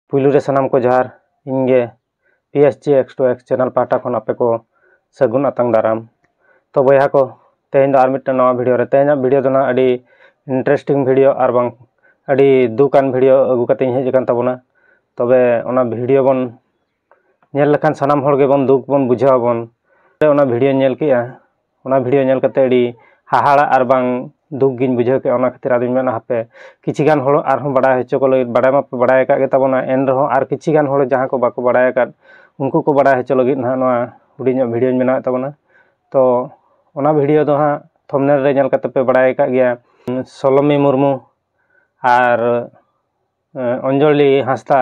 ᱯᱩᱭᱞᱩ ᱨᱮ ᱥᱟᱱᱟᱢ ᱠᱚ ᱡᱚᱦᱟᱨ ᱤᱧ ᱜᱮ P S G X two X channel ᱯᱟᱦᱴᱟ ᱠᱷᱚᱱ ᱟᱯᱮ ᱠᱚ ᱥᱟᱹᱜᱩᱱ ᱟᱛᱟᱝ ᱫᱟᱨᱟᱢ ᱛᱚ ᱵᱚᱭᱦᱟ ᱠᱚ ᱛᱮᱦᱮᱧ ᱫᱚ ᱟᱨ ᱢᱤᱫᱴᱟᱝ ᱱᱟᱣᱟ ᱵᱷᱤᱰᱤᱭᱳ ᱨᱮ ᱛᱮᱦᱮᱧᱟᱜ ᱵᱷᱤᱰᱤᱭᱳ ᱫᱚ ᱱᱟᱦᱟᱜ ᱟᱹᱰᱤ ᱤᱱᱴᱟᱨᱮᱥᱴᱤᱝ ᱵᱷᱤᱰᱤᱭᱳ ᱟᱨ ᱵᱟᱝ ᱟᱹᱰᱤ ᱫᱩᱠᱟᱱ ᱵᱷᱤᱰᱤᱭᱳ ᱟᱹᱜᱩ ᱠᱟᱛᱮᱧ ᱦᱮᱡ ᱟᱠᱟᱱ ᱛᱟᱵᱚᱱᱟ ᱛᱚᱵᱮ ᱚᱱᱟ ᱵᱷᱤᱰᱤᱭᱳ ᱵᱚᱱ ᱧᱮᱞ ᱞᱮᱠᱷᱟᱱ ᱥᱟᱱᱟᱢ ᱦᱚᱲ ᱜᱮᱵᱚᱱ ᱫᱩᱠ ᱵᱚᱱ ᱵᱩᱡᱷᱟᱹᱣ ᱟᱵᱚᱱ ᱚᱱᱟ ᱵᱷᱤᱰᱭᱳᱧ ᱧᱮᱞ ᱠᱮᱜᱼᱟ ᱚᱱᱟ ᱵᱷᱤᱰᱭᱳ ᱧᱮᱞ ᱠᱟᱛᱮᱫ ᱟᱹᱰᱤ ᱦᱟᱦᱟᱲᱟᱜ ᱟᱨ ᱵᱟᱝ ᱫᱩᱠ ᱜᱤᱧ ᱵᱩᱡᱷᱟᱹᱣ ᱠᱮᱜᱼᱟ ᱚᱱᱟ ᱠᱷᱟᱹᱛᱤᱨ ᱟᱫᱚᱧ ᱢᱮᱱᱟ ᱦᱟᱯᱮ ᱠᱤᱪᱷᱩ ᱜᱟᱱ ᱦᱚᱲ ᱟᱨᱦᱚᱸ ᱵᱟᱲᱟᱭ ᱦᱚᱪᱚ ᱠᱚ ᱞᱟᱹᱜᱤᱫ ᱵᱟᱲᱟᱭ ᱢᱟᱠᱚ ᱵᱟᱲᱟᱭ ᱟᱠᱟᱫ ᱜᱮᱛᱟ ᱵᱚᱱᱟ ᱮᱱ ᱨᱮᱦᱚᱸ ᱟᱨ ᱠᱤᱪᱷᱩ ᱜᱟᱱ ᱦᱚᱲ ᱡᱟᱦᱟᱸᱭ ᱠᱚ ᱵᱟᱠᱚ ᱵᱟᱲᱟᱭ ᱟᱠᱟᱫ ᱩᱱᱠᱩ ᱠᱚ ᱵᱟᱲᱟᱭ ᱦᱚᱪᱚ ᱞᱟᱹᱜᱤᱫ ᱦᱟᱸᱜ ᱱᱚᱣᱟ ᱦᱩᱰᱤᱧ ᱧᱚᱜ ᱵᱷᱤᱰᱭᱳᱧ ᱵᱮᱱᱟᱣᱮᱫ ᱛᱟᱵᱚᱱᱟ ᱛᱚ ᱚᱱᱟ ᱵᱷᱤᱰᱭᱳ ᱫᱚ ᱦᱟᱸᱜ ᱛᱷᱚᱢᱱᱮᱞ ᱨᱮ ᱧᱮᱞ ᱠᱟᱛᱮᱫ ᱯᱮ ᱵᱟᱲᱟᱭ ᱟᱠᱟᱫ ᱜᱮᱭᱟ ᱥᱳᱞᱳᱢᱤ ᱢᱩᱨᱢᱩ ᱟᱨ ᱚᱧᱡᱚᱞᱤ ᱦᱟᱸᱥᱫᱟ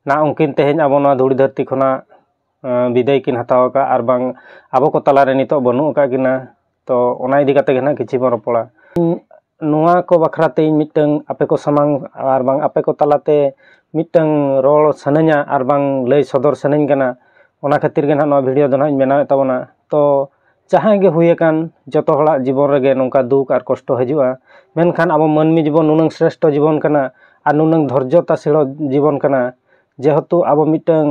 ᱱᱟᱜ ᱩᱱᱠᱤᱱ ᱛᱮᱦᱮᱧ ᱟᱵᱚ ᱱᱚᱣᱟ ᱫᱷᱩᱲᱤ ᱫᱷᱟᱹᱨᱛᱤ ᱠᱷᱚᱱᱟᱜ ᱵᱤᱫᱟᱹᱭ ᱠᱤᱱ ᱦᱟᱛᱟᱣ ᱟᱠᱟᱫᱼᱟ ᱟᱨ ᱵᱟᱝ ᱟᱵᱚ ᱠᱚ ᱛᱟᱞᱟᱨᱮ ᱱᱤᱛᱚᱜ ᱵᱟᱹᱱᱩᱜ ᱟᱠᱟᱫ ᱠᱤᱱᱟ ᱛᱚ ᱚᱱᱟ ᱤᱫᱤ ᱠᱟᱛᱮᱫ ᱜᱮ ᱱᱟᱜ ᱠᱤᱪᱷᱩ ᱵᱚᱱ ᱨᱚᱯᱚᱲᱟ ᱱᱚᱣᱟ ᱠᱚ ᱵᱟᱠᱷᱨᱟ ᱛᱮ ᱤᱧ ᱢᱤᱫᱴᱟᱹᱝ ᱟᱯᱮ ᱠᱚ ᱥᱟᱢᱟᱝ ᱟᱨ ᱵᱟᱝ ᱟᱯᱮ ᱠᱚ ᱛᱟᱞᱟᱛᱮ ᱢᱤᱫᱴᱟᱹᱝ ᱨᱚᱲ ᱥᱟᱱᱟᱧᱟ ᱟᱨ ᱵᱟᱝ ᱞᱟᱹᱭ ᱥᱚᱫᱚᱨ ᱥᱟᱱᱟᱧ ᱠᱟᱱᱟ ᱚᱱᱟ ᱠᱷᱟᱹᱛᱤᱨ ᱜᱮ ᱱᱟᱜ ᱱᱚᱣᱟ ᱵᱷᱤᱰᱭᱳ ᱫᱚ ᱱᱟᱜ ᱤᱧ ᱵᱮᱱᱟᱣᱮᱫ ᱛᱟᱵᱚᱱᱟ ᱛᱚ ᱡᱟᱦᱟᱸᱭ ᱜᱮ ᱦᱩᱭ ᱟᱠᱟᱱ ᱡᱚᱛᱚ ᱦᱚᱲᱟᱜ ᱡᱤᱵᱚᱱ ᱨᱮᱜᱮ ᱱᱚᱝᱠᱟ ᱫᱩᱠ ᱟᱨ ᱠᱚᱥᱴᱚ ᱦᱤᱡᱩᱜᱼᱟ ᱢᱮᱱᱠᱷᱟᱱ ᱟᱵᱚ ᱢᱟᱹᱱᱢᱤ ᱡᱤᱵᱚᱱ ᱱᱩᱱᱟᱹᱝ ᱥᱨᱮᱥᱴᱷᱚ ᱡᱤᱵᱚᱱ ᱠᱟᱱᱟ ᱟᱨ ᱱᱩᱱᱟᱹᱝ ᱫᱷᱳᱨᱡᱚ ᱛᱟᱥᱮᱲᱚᱜ ᱡᱤᱵᱚᱱ ᱠᱟᱱᱟ ᱡᱮᱦᱮᱛᱩ ᱟᱵᱚ ᱢᱤᱫᱴᱟᱹᱝ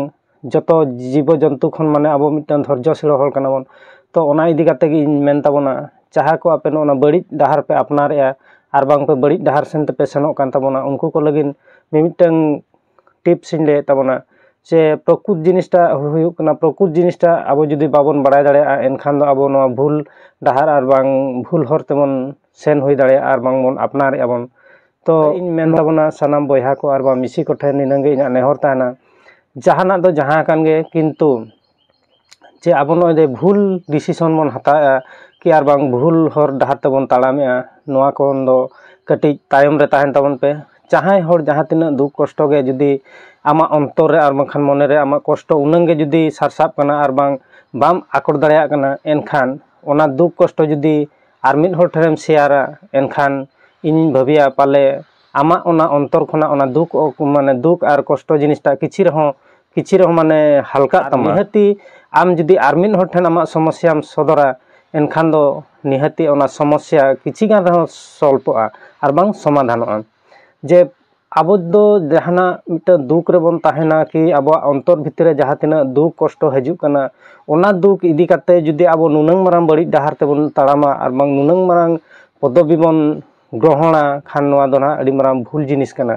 ᱡᱚᱛᱚ ᱡᱤᱵᱚ ᱡᱚᱱᱛᱩ ᱠᱷᱚᱱ ᱢᱟᱱᱮ ᱟᱵᱚ ᱢᱤᱫᱴᱟᱹᱝ ᱫᱷᱳᱨᱡᱚ ᱥᱮᱲᱚ ᱦᱚᱲ ᱠᱟᱱᱟ ᱵᱚᱱ ᱛᱚ ᱚᱱᱟ ᱤᱫᱤ ᱠᱟᱛᱮ ᱜᱮ ᱤᱧ ᱢᱮᱱ ᱛᱟᱵᱚᱱᱟ ᱡᱟᱦᱟᱸᱭ ᱠᱚ ᱟᱯᱮ ᱱᱚᱜᱼᱚ ᱱᱟ ᱵᱟᱹᱲᱤᱡ ᱰᱟᱦᱟᱨ ᱯᱮ ᱟᱯᱱᱟᱨᱮᱜᱼᱟ ᱟᱨ ᱵᱟᱝ ᱯᱮ ᱵᱟᱹᱲᱤᱡ ᱰᱟᱦᱟᱨ ᱥᱮᱱ ᱛᱮᱯᱮ ᱥᱮᱱᱚᱜ ᱠᱟᱱ ᱛᱟᱵᱚᱱᱟ ᱩᱱᱠᱩ ᱠᱚ ᱞᱟᱹᱜᱤᱫ ᱢᱤᱢᱤᱫᱴᱟᱹᱝ ᱴᱤᱯᱥ ᱤᱧ ᱞᱟᱹᱭᱮᱫ ᱛᱟᱵᱚᱱᱟ ᱥᱮ ᱯᱨᱚᱠᱩᱛ ᱡᱤᱱᱤᱥᱴᱟ ᱦᱩᱭᱩᱜ ᱠᱟᱱᱟ ᱯᱨᱚᱠᱩᱛ ᱡᱤᱱᱤᱥᱴᱟ ᱟᱵᱚ ᱡᱩᱫᱤ ᱵᱟᱵᱚᱱ ᱵᱟᱲᱟᱭ ᱫᱟᱲᱮᱭᱟᱜᱼᱟ ᱮᱱᱠᱷᱟᱱ ᱫᱚ ᱟᱵᱚ ᱱᱚᱣᱟ ᱵᱷᱩᱞ ᱰᱟᱦᱟᱨ ᱟᱨ ᱵᱟᱝ ᱵᱷᱩᱞ ᱦᱚᱨ ᱛᱮᱵᱚᱱ ᱥᱮᱱ ᱦᱩᱭ ᱫᱟᱲᱮᱭᱟᱜᱼᱟ ᱟᱨ ᱵᱟᱝ ᱵᱚᱱ ᱟᱯᱱᱟᱨᱮᱜᱼᱟ ᱵᱚᱱ ᱛᱚ ᱤᱧ ᱢᱮᱱ ᱛᱟᱵᱚᱱᱟ ᱥᱟᱱᱟᱢ ᱵᱚᱭᱦᱟ ᱠᱚ ᱟᱨ ᱵᱟᱝ ᱢᱤᱥᱤ ᱠᱚᱴᱷᱮᱱ ᱱᱤᱱᱟᱹᱜ ᱜᱮ ᱤᱧᱟᱹᱜ ᱱᱮᱦᱚᱨ ᱛᱟᱦᱮᱱᱟ ᱡᱟᱦᱟᱱᱟᱜ ᱫᱚ ᱡᱟᱦᱟᱸ ᱟᱠᱟᱱ ᱜᱮ ᱠᱤᱱᱛᱩ ᱡᱮ ᱟᱵᱚ ᱱᱚᱜᱼᱚᱭ ᱡᱮ ᱵᱷᱩᱞ ᱰᱤᱥᱤᱥᱚᱱ ᱵᱚᱱ ᱦᱟᱛᱟᱣᱮᱜᱼᱟ ᱠᱤ ᱟᱨ ᱵᱟᱝ ᱵᱷᱩᱞ ᱦᱚᱨ ᱰᱟᱦᱟᱨ ᱛᱮᱵᱚᱱ ᱛᱟᱲᱟᱢᱮᱜᱼᱟ ᱱᱚᱣᱟ ᱠᱷᱚᱱ ᱫᱚ ᱠᱟᱹᱴᱤᱡ ᱛᱟᱭᱚᱢ ᱨᱮ ᱛᱟᱦᱮᱱ ᱛᱟᱵᱚᱱ ᱯᱮ ᱡᱟᱦᱟᱸᱭ ᱦᱚᱲ ᱡᱟᱦᱟᱸ ᱛᱤᱱᱟᱹᱜ ᱫᱩᱠ ᱠᱚᱥᱴᱚ ᱜᱮ ᱡᱩᱫᱤ ᱟᱢᱟᱜ ᱚᱱᱛᱚᱨ ᱨᱮ ᱟᱨ ᱵᱟᱝᱠᱷᱟᱱ ᱢᱚᱱᱮ ᱨᱮ ᱟᱢᱟᱜ ᱠᱚᱥᱴᱚ ᱩᱱᱟᱹᱝ ᱜᱮ ᱡᱩᱫᱤ ᱥᱟᱨᱥᱟᱜ ᱠᱟᱱᱟ ᱟᱨ ᱵᱟᱝ ᱵᱟᱢ ᱟᱠᱚᱴ ᱫᱟᱲᱮᱭᱟᱜ ᱠᱟᱱᱟ ᱮᱱᱠᱷᱟᱱ ᱚᱱᱟ ᱫᱩᱠ ᱠᱚᱥᱴᱚ ᱡᱩᱫᱤ ᱟᱨ ᱢᱤᱫ ᱦᱚᱲ ᱴᱷᱮᱱᱮᱢ ᱥᱮᱭᱟᱨᱟ ᱮᱱᱠᱷᱟᱱ ᱤᱧᱤᱧ ᱵᱷᱟᱹᱵᱤᱭᱟ ᱯᱟᱞᱮ ᱟᱢᱟᱜ ᱚᱱᱟ ᱚᱱᱛᱚᱨ ᱠᱷᱚᱱᱟᱜ ᱚᱱᱟ ᱫᱩᱠ ᱢᱟᱱᱮ ᱫᱩᱠ ᱟᱨ ᱠᱚᱥᱴᱚ ᱡᱤᱱᱤᱥᱴᱟ ᱠᱤᱪᱷᱤ ᱨᱮᱦᱚᱸ ᱠᱤᱪᱷᱤ ᱨᱮᱦᱚᱸ ᱢᱟᱱᱮ ᱦᱟᱞᱠᱟᱜ ᱛᱟᱢᱟ ᱱᱤᱦᱟᱹᱛᱤ ᱟᱢ ᱡᱩᱫᱤ ᱟᱨ ᱢᱤᱫ ᱦᱚᱲ ᱴᱷᱮᱱ ᱟᱢᱟᱜ ᱥᱚᱢᱚᱥᱭᱟᱢ ᱥᱚᱫᱚᱨᱟ ᱮᱱᱠᱷᱟᱱ ᱫᱚ ᱱᱤᱦᱟᱹᱛᱤ ᱚᱱᱟ ᱥᱚᱢᱚᱥᱭᱟ ᱠᱤᱪᱷᱤ ᱜᱟᱱ ᱨᱮᱦᱚᱸ ᱥᱚᱞᱯᱚᱜᱼᱟ ᱟᱨ ᱵᱟᱝ ᱥᱚᱢᱟᱫᱷᱟᱱᱚᱜᱼᱟ ᱡᱮ ᱟᱵᱚ ᱫᱚ ᱡᱟᱦᱟᱱᱟᱜ ᱢᱤᱫᱴᱟᱝ ᱫᱩᱠ ᱨᱮᱵᱚᱱ ᱛᱟᱦᱮᱱᱟ ᱠᱤ ᱟᱵᱚᱣᱟᱜ ᱚᱱᱛᱚᱨ ᱵᱷᱤᱛᱤᱨ ᱨᱮ ᱡᱟᱦᱟᱸ ᱛᱤᱱᱟᱹᱜ ᱫᱩᱠ ᱠᱚᱥᱴᱚ ᱦᱤᱡᱩᱜ ᱠᱟᱱᱟ ᱚᱱᱟ ᱫᱩᱠ ᱤᱫᱤ ᱠᱟᱛᱮ ᱡᱩᱫᱤ ᱟᱵᱚ ᱱᱩᱱᱟᱹᱝ ᱢᱟᱨᱟᱝ ᱵᱟᱹᱲᱤᱡ ᱰᱟᱦᱟᱨ ᱛᱮᱵᱚᱱ ᱛᱟᱲᱟᱢᱟ ᱟᱨ ᱵᱟᱝ ᱱᱩᱱᱟᱹᱝ ᱢᱟᱨᱟᱝ ᱯᱚᱫᱚᱵᱤ ᱵᱚᱱ ᱜᱨᱚᱦᱚᱱᱟ ᱠᱷᱟᱱ ᱱᱚᱣᱟ ᱫᱚ ᱱᱟᱦᱟᱜ ᱟᱹᱰᱤ ᱢᱟᱨᱟᱝ ᱵᱷᱩᱞ ᱡᱤᱱᱤᱥ ᱠᱟᱱᱟ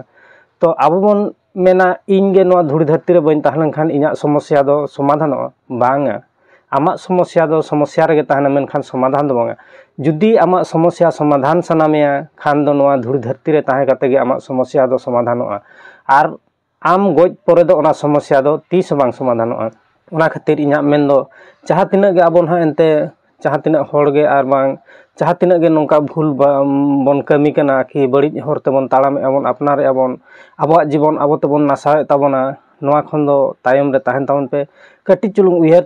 ᱛᱚ ᱟᱵᱚ ᱵᱚᱱ ᱢᱮᱱᱟ ᱤᱧ ᱜᱮ ᱱᱚᱣᱟ ᱫᱷᱩᱲᱤ ᱫᱷᱟᱹᱨᱛᱤ ᱨᱮ ᱵᱟᱹᱧ ᱛᱟᱦᱮᱸ ᱞᱮᱱᱠᱷᱟᱱ ᱤᱧᱟᱹᱜ ᱥᱚᱢᱚᱥᱥᱟ ᱫᱚ ᱥᱚᱢᱟᱫᱷᱟᱱᱚᱜᱼᱟ ᱵᱟᱝᱟ ᱟᱢᱟᱜ ᱥᱚᱢᱚᱥᱥᱟ ᱫᱚ ᱥᱚᱢᱚᱥᱥᱟ ᱨᱮᱜᱮ ᱛᱟᱦᱮᱱᱟ ᱢᱮᱱᱠᱷᱟᱱ ᱥᱚᱢᱟᱫᱷᱟᱱ ᱫᱚ ᱵᱟᱝᱟ ᱡᱩᱫᱤ ᱟᱢᱟᱜ ᱥᱚᱢᱚᱥᱥᱟ ᱥᱚᱢᱟᱫᱷᱟᱱ ᱥᱟᱱᱟ ᱢᱮᱭᱟ ᱠᱷᱟᱱ ᱫᱚ ᱱᱚᱣᱟ ᱫᱷᱩᱲᱤ ᱫᱷᱟᱹᱨᱛᱤ ᱨᱮ ᱛᱟᱦᱮᱸ ᱠᱟᱛᱮ ᱜᱮ ᱟᱢᱟᱜ ᱥᱚᱢᱚᱥᱥᱟ ᱫᱚ ᱥᱚᱢᱟᱫᱷᱟᱱᱚᱜᱼᱟ ᱟᱨ ᱟᱢ ᱜᱚᱡ ᱯᱚᱨᱮ ᱫᱚ ᱚᱱᱟ ᱥᱚᱢᱚᱥᱥᱟ ᱫᱚ ᱛᱤᱥ ᱦᱚᱸ ᱵᱟᱝ ᱥᱚᱢᱟᱫᱷᱟᱱᱚᱜᱼᱟ ᱚᱱᱟ ᱠᱷᱟᱹᱛᱤᱨ ᱤᱧᱟᱹᱜ ᱢᱮᱱ ᱫᱚ ᱡᱟᱦᱟᱸ ᱛᱤᱱᱟᱹᱜ ᱜᱮ ᱟᱵᱚ ᱱᱟᱦᱟᱜ ᱮᱱᱛᱮ ᱡᱟᱦᱟᱸ ᱛᱤᱱᱟᱹᱜ ᱦᱚᱲ ᱜᱮ ᱟᱨ ᱵᱟᱝ ᱡᱟᱦᱟᱸ ᱛᱤᱱᱟᱹᱜ ᱜᱮ ᱱᱚᱝᱠᱟ ᱵᱷᱩᱞ ᱵᱷᱟᱞ ᱵᱚᱱ ᱠᱟᱹᱢᱤ ᱠᱟᱱᱟ ᱠᱤ ᱵᱟᱹᱲᱤᱡ ᱦᱚᱨ ᱛᱮᱵᱚᱱ ᱛᱟᱲᱟᱢᱮᱫᱼᱟ ᱵᱚᱱ ᱟᱯᱱᱟᱨᱮᱫᱼᱟ ᱵᱚᱱ ᱟᱵᱚᱣᱟᱜ ᱡᱤᱵᱚᱱ ᱟᱵᱚ ᱛᱮᱵᱚᱱ ᱱᱟᱥᱟᱣᱮᱫ ᱛᱟᱵᱚᱱᱟ ᱱᱚᱣᱟ ᱠᱷᱚᱱ ᱫᱚ ᱛᱟᱭᱚᱢ ᱨᱮ ᱛᱟᱦᱮᱱ ᱛᱟᱵᱚᱱ ᱯᱮ ᱠᱟᱹᱴᱤᱡ ᱪᱩᱞᱩᱝ ᱩᱭᱦᱟᱹᱨ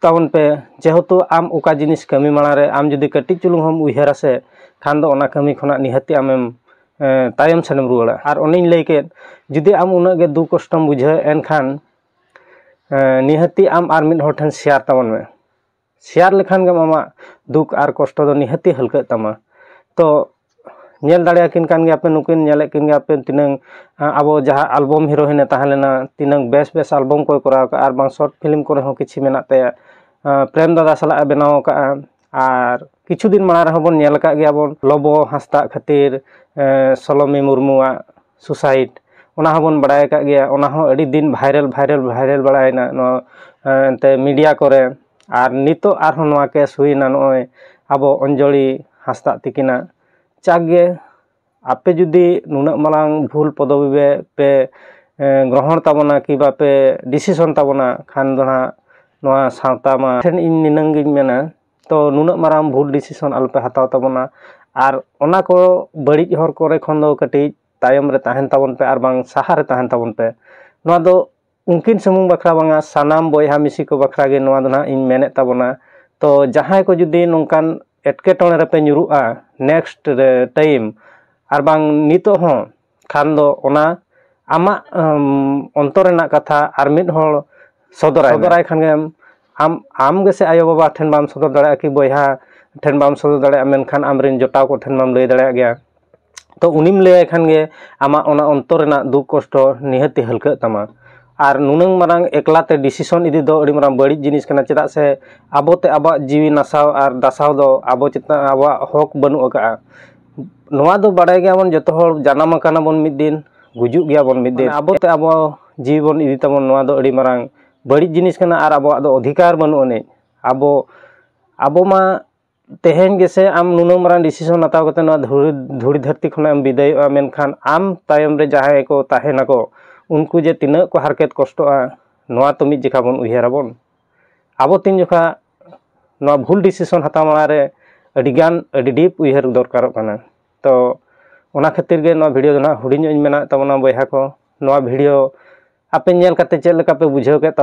ᱛᱟᱵᱚᱱ ᱯᱮ ᱡᱮᱦᱮᱛᱩ ᱟᱢ ᱚᱠᱟ ᱡᱤᱱᱤᱥ ᱠᱟᱹᱢᱤ ᱢᱟᱲᱟᱝ ᱨᱮ ᱟᱢ ᱡᱩᱫᱤ ᱠᱟᱹᱴᱤᱡ ᱪᱩᱞᱩᱝ ᱦᱚᱢ ᱩᱭᱦᱟᱹᱨᱟ ᱥᱮ ᱠᱷᱟᱱ ᱫᱚ ᱚᱱᱟ ᱠᱟᱹᱢᱤ ᱠᱷᱚᱱᱟᱜ ᱱᱤᱦᱟᱹᱛᱤ ᱟᱢᱮᱢ ᱛᱟᱭᱚᱢ ᱥᱮᱱᱮᱢ ᱨᱩᱣᱟᱹᱲᱟ ᱟᱨ ᱚᱱᱮᱧ ᱞᱟᱹᱭ ᱠᱮᱫ ᱡᱩᱫᱤ ᱟᱢ ᱩᱱᱟᱹᱜ ᱜᱮ ᱫᱩᱠ ᱠᱚᱥᱴᱚᱢ ᱵᱩᱡᱷᱟᱹᱣᱮᱫᱼᱟ ᱮᱱᱠᱷᱟᱱ ᱱᱤᱦᱟᱹᱛᱤ ᱟᱢ ᱟᱨ ᱢᱤᱫ ᱦᱚᱲ ᱴᱷᱮᱱ ᱥᱮᱭᱟᱨ ᱛᱟᱵᱚᱱ ᱢᱮ ᱥᱮᱭᱟᱨ ᱞᱮᱠᱷᱟᱱ ᱜᱮᱢ ᱟᱢᱟᱜ ᱫᱩᱠ ᱟᱨ ᱠᱚᱥᱴᱚ ᱫᱚ ᱱᱤᱦᱟᱹᱛᱤ ᱦᱟᱹᱞᱠᱟᱹᱜ ᱛᱟᱢᱟ ᱛᱚ ᱧᱮᱞ ᱫᱟᱲᱮᱭᱟᱠᱤᱱ ᱠᱟᱱ ᱜᱮᱭᱟᱯᱮ ᱱᱩᱠᱤᱱ ᱧᱮᱞᱮᱫ ᱠᱤᱱ ᱜᱮᱭᱟᱯᱮ ᱛᱤᱱᱟᱹᱝ ᱟᱵᱚ ᱡᱟᱦᱟᱸ ᱟᱞᱵᱚᱢ ᱦᱤᱨᱳᱭᱤᱱᱮ ᱛᱟᱦᱮᱸ ᱞᱮᱱᱟ ᱛᱤᱱᱟᱹᱝ ᱵᱮᱥ ᱵᱮᱥ ᱟᱞᱵᱚᱢ ᱠᱚᱭ ᱠᱚᱨᱟᱣ ᱠᱟᱜᱼᱟ ᱟᱨ ᱵᱟᱝ ᱥᱚᱨᱴ ᱯᱷᱤᱞᱤᱢ ᱠᱚᱨᱮ ᱦᱚᱸ ᱠᱤᱪᱷᱩ ᱢᱮᱱᱟᱜ ᱛᱟᱭᱟ ᱯᱨᱮᱢ ᱫᱟᱫᱟ ᱥᱟᱞᱟᱜ ᱮ ᱵᱮᱱᱟᱣ ᱠᱟᱜᱼᱟ ᱟᱨ ᱠᱤᱪᱷᱩ ᱫᱤᱱ ᱢᱟᱲᱟᱝ ᱨᱮᱦᱚᱸ ᱵᱚᱱ ᱧᱮᱞ ᱠᱟᱜ ᱜᱮᱭᱟᱵᱚᱱ ᱞᱚᱵᱚ ᱦᱟᱸᱥᱫᱟ ᱠᱷᱟᱹᱛᱤᱨ ᱥᱳᱞᱳᱢᱤ ᱢᱩᱨᱢᱩᱣᱟᱜ ᱥᱩᱥᱟᱭᱤᱰ ᱚᱱᱟ ᱦᱚᱸᱵᱚᱱ ᱵᱟᱲᱟᱭ ᱠᱟᱜ ᱜᱮᱭᱟ ᱚᱱᱟ ᱦᱚᱸ ᱟᱹᱰᱤ ᱫᱤᱱ ᱵᱷᱟᱭᱨᱟᱞ ᱵᱷᱟᱭᱨᱟᱞ ᱵᱷᱟᱭᱨᱟᱞ ᱵᱟᱲᱟᱭᱮᱱᱟ ᱱᱚᱣᱟ ᱮᱱᱛᱮ ᱢᱤᱰᱤᱭᱟ ᱠᱚᱨᱮ ᱟᱨ ᱱᱤᱛᱚᱜ ᱟᱨᱦᱚᱸ ᱱᱚᱣᱟ ᱠᱮᱥ ᱦᱩᱭᱮᱱᱟ ᱱᱚᱜᱼᱚᱭ ᱟᱵᱚ ᱚᱧᱡᱚᱞᱤ ᱦᱟᱸᱥᱫᱟ ᱛᱟᱹᱠᱤᱱᱟᱜ ᱡᱟᱠ ᱜᱮ ᱟᱯᱮ ᱡᱩᱫᱤ ᱱᱩᱱᱟᱹᱜ ᱢᱟᱨᱟᱝ ᱵᱷᱩᱞ ᱯᱚᱫᱚᱵᱤ ᱵᱮ ᱯᱮ ᱜᱨᱚᱦᱚᱱ ᱛᱟᱵᱚᱱᱟ ᱠᱤ ᱵᱟᱯᱮ ᱰᱤᱥᱤᱥᱚᱱ ᱛᱟᱵᱚᱱᱟ ᱠᱷᱟᱱ ᱫᱚ ᱦᱟᱸᱜ ᱱᱚᱣᱟ ᱥᱟᱶᱛᱟ ᱢᱟ ᱴᱷᱮᱱ ᱤᱧ ᱱᱤᱱᱟᱹᱝ ᱜᱤᱧ ᱢᱮᱱᱟ ᱛᱚ ᱱᱩᱱᱟᱹᱜ ᱢᱟᱨᱟᱝ ᱵᱷᱩᱞ ᱰᱤᱥᱤᱥᱚᱱ ᱟᱞᱚᱯᱮ ᱦᱟᱛᱟᱣ ᱛᱟᱵᱚᱱᱟ ᱟᱨ ᱚᱱᱟ ᱠᱚ ᱵᱟᱹᱲᱤᱡ ᱦᱚᱨ ᱠᱚᱨᱮ ᱠᱷᱚᱱ ᱫᱚ ᱠᱟᱹᱴᱤᱡ ᱛᱟᱭᱚᱢ ᱨᱮ ᱛᱟᱦᱮᱱ ᱛᱟᱵᱚᱱ ᱯᱮ ᱟᱨ ᱵᱟᱝ ᱥᱟᱦᱟ ᱨᱮ ᱛᱟᱦᱮᱱ ᱛᱟᱵᱚᱱ ᱯᱮ ᱱᱚᱣᱟ ᱫᱚ ᱩᱱᱠᱤᱱ ᱥᱩᱢᱩᱝ ᱵᱟᱠᱷᱨᱟ ᱵᱟᱝᱟ ᱥᱟᱱᱟᱢ ᱵᱚᱭᱦᱟ ᱢᱤᱥᱤ ᱠᱚ ᱵᱟᱠᱷᱨᱟ ᱜᱮ ᱱᱚᱣᱟ ᱫᱚ ᱦᱟᱸᱜ ᱤᱧ ᱢᱮᱱᱮᱫ ᱛᱟᱵᱚᱱᱟ ᱛᱚ ᱡᱟᱦᱟᱸᱭ ᱠᱚ ᱡᱩᱫᱤ ᱱᱚᱝᱠᱟᱱ ᱮᱸᱴᱠᱮᱴᱚᱬᱮ ᱨᱮᱯᱮ ᱧᱩᱨᱩᱜᱼᱟ ᱱᱮᱠᱥᱴ ᱨᱮ ᱴᱟᱭᱤᱢ ᱟᱨ ᱵᱟᱝ ᱱᱤᱛᱚᱜ ᱦᱚᱸ ᱠᱷᱟᱱ ᱫᱚ ᱚᱱᱟ ᱟᱢᱟᱜ ᱚᱱᱛᱚᱨ ᱨᱮᱱᱟᱜ ᱠᱟᱛᱷᱟ ᱟᱨ ᱢᱤᱫ ᱦᱚᱲ ᱥᱚᱫᱚᱨᱟᱭ ᱥᱚᱫᱚᱨᱟᱭ ᱠᱷᱟᱱ ᱜᱮᱢ ᱟᱢ ᱟᱢ ᱜᱮᱥᱮ ᱟᱭᱳᱼᱵᱟᱵᱟ ᱴᱷᱮᱱ ᱵᱟᱢ ᱥᱚᱫᱚᱨ ᱫᱟᱲᱮᱭᱟᱜᱼᱟ ᱠᱤ ᱵᱚᱭᱦᱟ ᱴᱷᱮᱱ ᱵᱟᱢ ᱥᱚᱫᱚᱨ ᱫᱟᱲᱮᱭᱟᱜᱼᱟ ᱢᱮᱱᱠᱷᱟᱱ ᱟᱢᱨᱮᱱ ᱡᱚᱴᱟᱣ ᱠᱚᱴᱷᱮᱱ ᱢᱟᱢ ᱞᱟᱹᱭ ᱫᱟᱲᱮᱭᱟᱜ ᱜᱮᱭᱟ ᱛᱚ ᱩᱱᱤᱢ ᱞᱟᱹᱭᱟᱭ ᱠᱷᱟᱱ ᱜᱮ ᱟᱢᱟᱜ ᱚᱱᱟ ᱚᱱᱛᱚᱨ ᱨᱮᱱᱟᱜ ᱫᱩᱠ ᱠᱚᱥᱴᱚ ᱱᱤᱦᱟᱹᱛᱤ ᱦᱟᱹᱞᱠᱟᱹᱜ ᱛᱟᱢᱟ ᱟᱨ ᱱᱩᱱᱟᱹᱝ ᱢᱟᱨᱟᱝ ᱮᱠᱞᱟ ᱛᱮ ᱰᱤᱥᱤᱥᱚᱱ ᱤᱫᱤ ᱫᱚ ᱟᱹᱰᱤ ᱢᱟᱨᱟᱝ ᱵᱟᱹᱲᱤᱡ ᱡᱤᱱᱤᱥ ᱠᱟᱱᱟ ᱪᱮᱫᱟᱜ ᱥᱮ ᱟᱵᱚᱛᱮ ᱟᱵᱚᱣᱟᱜ ᱡᱤᱣᱤ ᱱᱟᱥᱟᱣ ᱟᱨ ᱫᱟᱥᱟᱣ ᱫᱚ ᱟᱵᱚ ᱪᱮᱛᱟᱱ ᱟᱵᱚᱣᱟᱜ ᱦᱚᱸᱠ ᱵᱟᱹᱱᱩᱜ ᱟᱠᱟᱫᱼᱟ ᱱᱚᱣᱟ ᱫᱚ ᱵᱟᱲᱟᱭ ᱜᱮᱭᱟᱵᱚᱱ ᱡᱚᱛᱚ ᱦᱚᱲ ᱡᱟᱱᱟᱢ ᱟᱠᱟᱱᱟ ᱵᱚᱱ ᱢᱤᱫ ᱫᱤᱱ ᱜᱩᱡᱩᱜ ᱜᱮᱭᱟᱵᱚᱱ ᱢᱤᱫ ᱫᱤᱱ ᱟᱵᱚ ᱛᱮ ᱟᱵᱚ ᱡᱤᱣᱤ ᱵᱚᱱ ᱤᱫᱤ ᱛᱟᱵᱚᱱ ᱱᱚᱣᱟ ᱫᱚ ᱟᱹᱰᱤ ᱢᱟᱨᱟᱝ ᱵᱟᱹᱲᱤᱡ ᱡᱤᱱᱤᱥ ᱠᱟᱱᱟ ᱟᱨ ᱟᱵᱚᱣᱟᱜ ᱫᱚ ᱚᱫᱷᱤᱠᱟᱨ ᱵᱟᱹᱱᱩᱜ ᱟᱹᱱᱤᱡ ᱟᱵᱚ ᱟᱵᱚ ᱢᱟ ᱛᱮᱦᱮᱧ ᱜᱮᱥᱮ ᱟᱢ ᱱᱩᱱᱟᱹᱜ ᱢᱟᱨᱟᱝ ᱰᱤᱥᱤᱥᱚᱱ ᱦᱟᱛᱟᱣ ᱠᱟᱛᱮ ᱱᱚᱣᱟ ᱫᱷᱩᱲᱤ ᱫᱷᱩᱲᱤ ᱫᱷᱟᱹᱨᱛᱤ ᱠᱷᱚᱱᱟᱜ ᱮᱢ ᱵᱤᱫᱟᱹᱭᱚᱜᱼᱟ ᱢᱮᱱᱠᱷᱟᱱ ᱟᱢ ᱛᱟᱭᱚᱢ ᱨᱮ ᱡᱟᱦᱟᱸᱭ ᱠᱚ ᱛᱟᱦᱮᱱᱟᱠᱚ ᱩᱱᱠᱩ ᱡᱮ ᱛᱤᱱᱟᱹᱜ ᱠᱚ ᱦᱟᱨᱠᱮᱛ ᱠᱚᱥᱴᱚᱜᱼᱟ ᱱᱚᱣᱟ ᱛᱚ ᱢᱤᱫ ᱡᱚᱠᱷᱟ ᱵᱚᱱ ᱩᱭᱦᱟᱹᱨᱟᱵᱚᱱ ᱟᱵᱚ ᱛᱤᱱ ᱡᱚᱠᱷᱟ ᱱᱚᱣᱟ ᱵᱷᱩᱞ ᱰᱤᱥᱤᱥᱚᱱ ᱦᱟᱛᱟᱣ ᱢᱟᱲᱟᱝ ᱨᱮ ᱟᱹᱰᱤ ᱜᱟᱱ ᱟᱹᱰᱤ ᱰᱤᱯ ᱩᱭᱦᱟᱹᱨ ᱫᱚᱨᱠᱟᱨᱚᱜ ᱠᱟᱱᱟ ᱛᱚ ᱚᱱᱟ ᱠᱷᱟᱹᱛᱤᱨ ᱜᱮ ᱱᱚᱣᱟ ᱵᱷᱤᱰᱤᱭᱳ ᱫᱚ ᱱᱟᱦᱟᱜ ᱦᱩᱰᱤᱧ ᱧᱚᱜ ᱤᱧ ᱢᱮᱱᱟᱜ ᱛᱟᱵᱚᱱᱟ ᱵᱚᱭᱦᱟ ᱠᱚ ᱱᱚᱣᱟ ᱵᱷᱤᱰᱤᱭᱳ ᱟᱯᱮ ᱧᱮᱞ ᱠᱟᱛᱮ ᱪᱮᱫ ᱞᱮᱠᱟ ᱯᱮ ᱵᱩᱡᱷᱟᱹᱣ ᱠᱮᱫ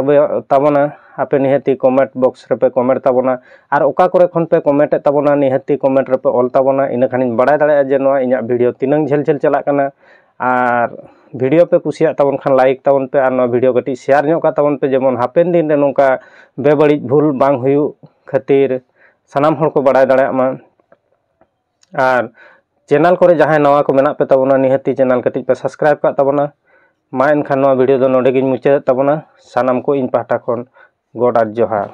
ᱛᱟᱵᱚᱱᱟ ᱟᱯᱮ ᱱᱤᱦᱟᱹᱛᱤ ᱠᱚᱢᱮᱱᱴ ᱵᱚᱠᱥ ᱨᱮᱯᱮ ᱠᱚᱢᱮᱱᱴ ᱛᱟᱵᱚᱱᱟ ᱟᱨ ᱚᱠᱟ ᱠᱚᱨᱮ ᱠᱷᱚᱱ ᱯᱮ ᱠᱚᱢᱮᱱᱴ ᱮᱫ ᱛᱟᱵᱚᱱᱟ ᱱᱤᱦᱟᱹᱛᱤ ᱠᱚᱢᱮᱱᱴ ᱨᱮᱯᱮ ᱚᱞ ᱛᱟᱵᱚᱱᱟ ᱤᱱᱟᱹ ᱠᱷᱟᱱᱤᱧ ᱵᱟᱲᱟᱭ ᱫᱟᱲᱮᱭᱟᱜᱼᱟ ᱡᱮ ᱱᱚᱣᱟ ᱤᱧᱟᱹᱜ ᱵᱷᱤᱰᱤᱭᱳ ᱛᱤᱱᱟᱹᱝ ᱡᱷᱟᱹᱞ ᱡᱷᱟᱹᱞ ᱪᱟᱞᱟᱜ ᱠᱟᱱᱟ ᱟᱨ ᱵᱷᱤᱰᱤᱭᱳ ᱯᱮ ᱠᱩᱥᱤᱭᱟᱜ ᱛᱟᱵᱚᱱ ᱠᱷᱟᱱ ᱞᱟᱭᱤᱠ ᱛᱟᱵᱚᱱ ᱯᱮ ᱟᱨ ᱱᱚᱣᱟ ᱵᱷᱤᱰᱤᱭᱳ ᱠᱟᱹᱴᱤᱡ ᱥᱮᱭᱟᱨ ᱧᱚᱜ ᱠᱟᱜ ᱛᱟᱵᱚᱱ ᱯᱮ ᱡᱮᱢᱚᱱ ᱦᱟᱯᱮᱱ ᱫᱤᱱ ᱨᱮ ᱱᱚᱝᱠᱟ ᱵᱮᱵᱟᱹᱲᱤᱡ ᱵᱷᱩᱞ ᱵᱟᱝ ᱦᱩᱭᱩᱜ ᱠᱷᱟᱹᱛᱤᱨ ᱥᱟᱱᱟᱢ ᱦᱚᱲ ᱠᱚ ᱵᱟᱲᱟᱭ ᱫᱟᱲᱮᱭᱟᱜ ᱢᱟ ᱟᱨ ᱪᱮᱱᱮᱞ ᱠᱚᱨᱮ ᱡᱟᱦᱟᱸᱭ ᱱᱟᱣᱟ ᱠᱚ ᱢᱮᱱᱟᱜ ᱯᱮ ᱛᱟᱵᱚᱱᱟ ᱱᱤᱦᱟᱹᱛᱤ ᱪᱮᱱᱮᱞ ᱠᱟᱹᱴᱤᱡ ᱯᱮ ᱥᱟᱵᱥᱠᱨᱟᱭᱤᱵᱽ ᱠᱟᱜ ᱛᱟᱵᱚᱱᱟ ᱢᱟ ᱮᱱᱠᱷᱟᱱ ᱱᱚᱣᱟ ᱵᱷᱤᱰᱤᱭᱳ ᱫᱚ ᱱᱚᱰᱮ ᱜᱤᱧ ᱢᱩᱪᱟᱹᱫᱮᱫ ᱛᱟᱵᱚᱱᱟ ᱥᱟᱱᱟᱢ ᱠᱚ ᱤᱧ ᱯᱟᱦᱴᱟ ᱠᱷᱚᱱ ᱜᱚᱰ ᱟᱨ ᱡᱚᱦᱟᱨ